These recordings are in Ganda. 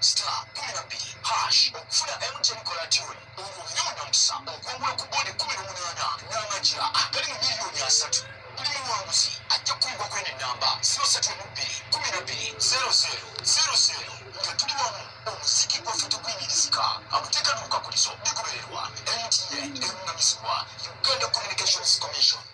star kumi na bbiri hash okufuna mtn kolatuni olwo obire munamusa okwongula ku bondi kumi n'omunaana n'amagira agali mu miliyoni asatu buli muwanguzi ajja kukumbwa kwene nnamba ziro satu emu bbiri kumi na bbiri zero zero zero zero nga tuli wamu omuziki gwaffe tuguyimirizika amateeka n'obukakulizo bigubererwa mtn eruŋŋamizibwa uganda communications commission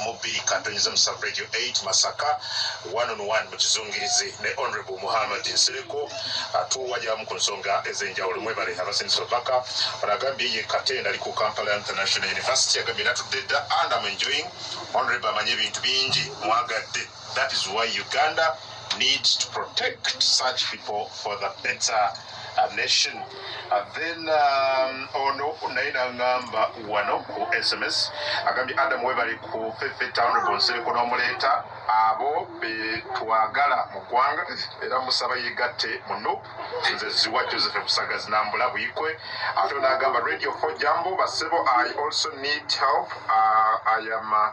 mu bbiri kantonyeza mu sub radio 8 masaka one on one mu kizungirizi ne honorable muhammad nsereko atuwajamu ku nsonga ez'enjawulo mwebale abasindisa obubaka ono agambye ye katenda ali ku kampala international university agambye natudde dda and am enjoying honorable amanyi ebintu bingi mwagadde That is why Uganda needs to protect such people for the better uh, nation. And then um, ono naye nangamba wano ku SMS agambye Adam webali ku Fefe Town Bonsireko n'omuleeta abo betwagala mu ggwanga era musaba yegatte mu nup nze ziwa joseph busaga zinambula buyikwe ate onagamba radio for jambo basebo i also need help uh, i am uh,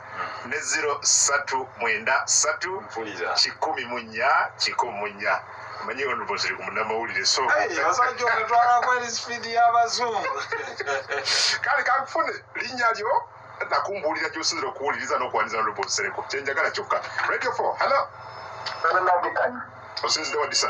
ne ziro satu mwenda satu kikumi mu nnya kikumi mu nnya manyi ono boziri ku munamawulire so kale kakufune linnya lyo nakumbuulira gyosinzira okuwuliriza n'okuwaniza nolubosereko kyenjagala kyokka radio fo hallo osinzidde wadisa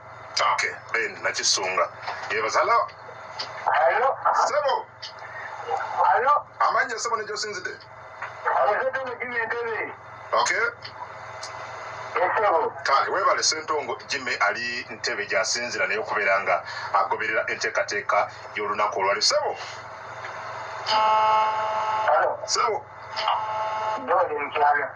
Okay, Ben Nakisunga. Yebaza hello. Hello. Sebo. Hello. Amanya sebo ne josinzide. Abazadde mu Jimmy Entebbe. Okay. kale webale sentongo jime ali ntebe gyasinzira naye okubeera nga agoberera enteekateeka y'olunaku olwali sebo sebo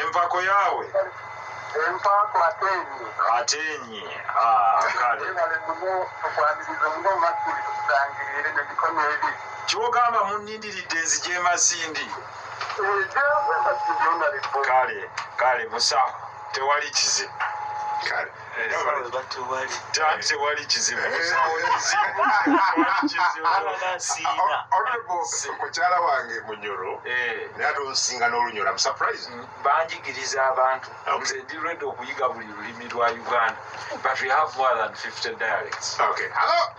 Empako yawe. Empako atenyi. Atenyi. Ah, kale. Kale muno tukwaniriza muno makiri tusangirire ne bikono ebi. Kyogamba munindiridde nzije masindi. Kale, kale musa tewali kizibu. Kale. tewali kizibu mukyala wange munyoro eh. naye ate onsinga n'olunyoro amusuprise mm, banjigiriza abantu nze ndi redi okuyiga buli lulimi lwa uganda but we have more than 50 dialects okay. Hello?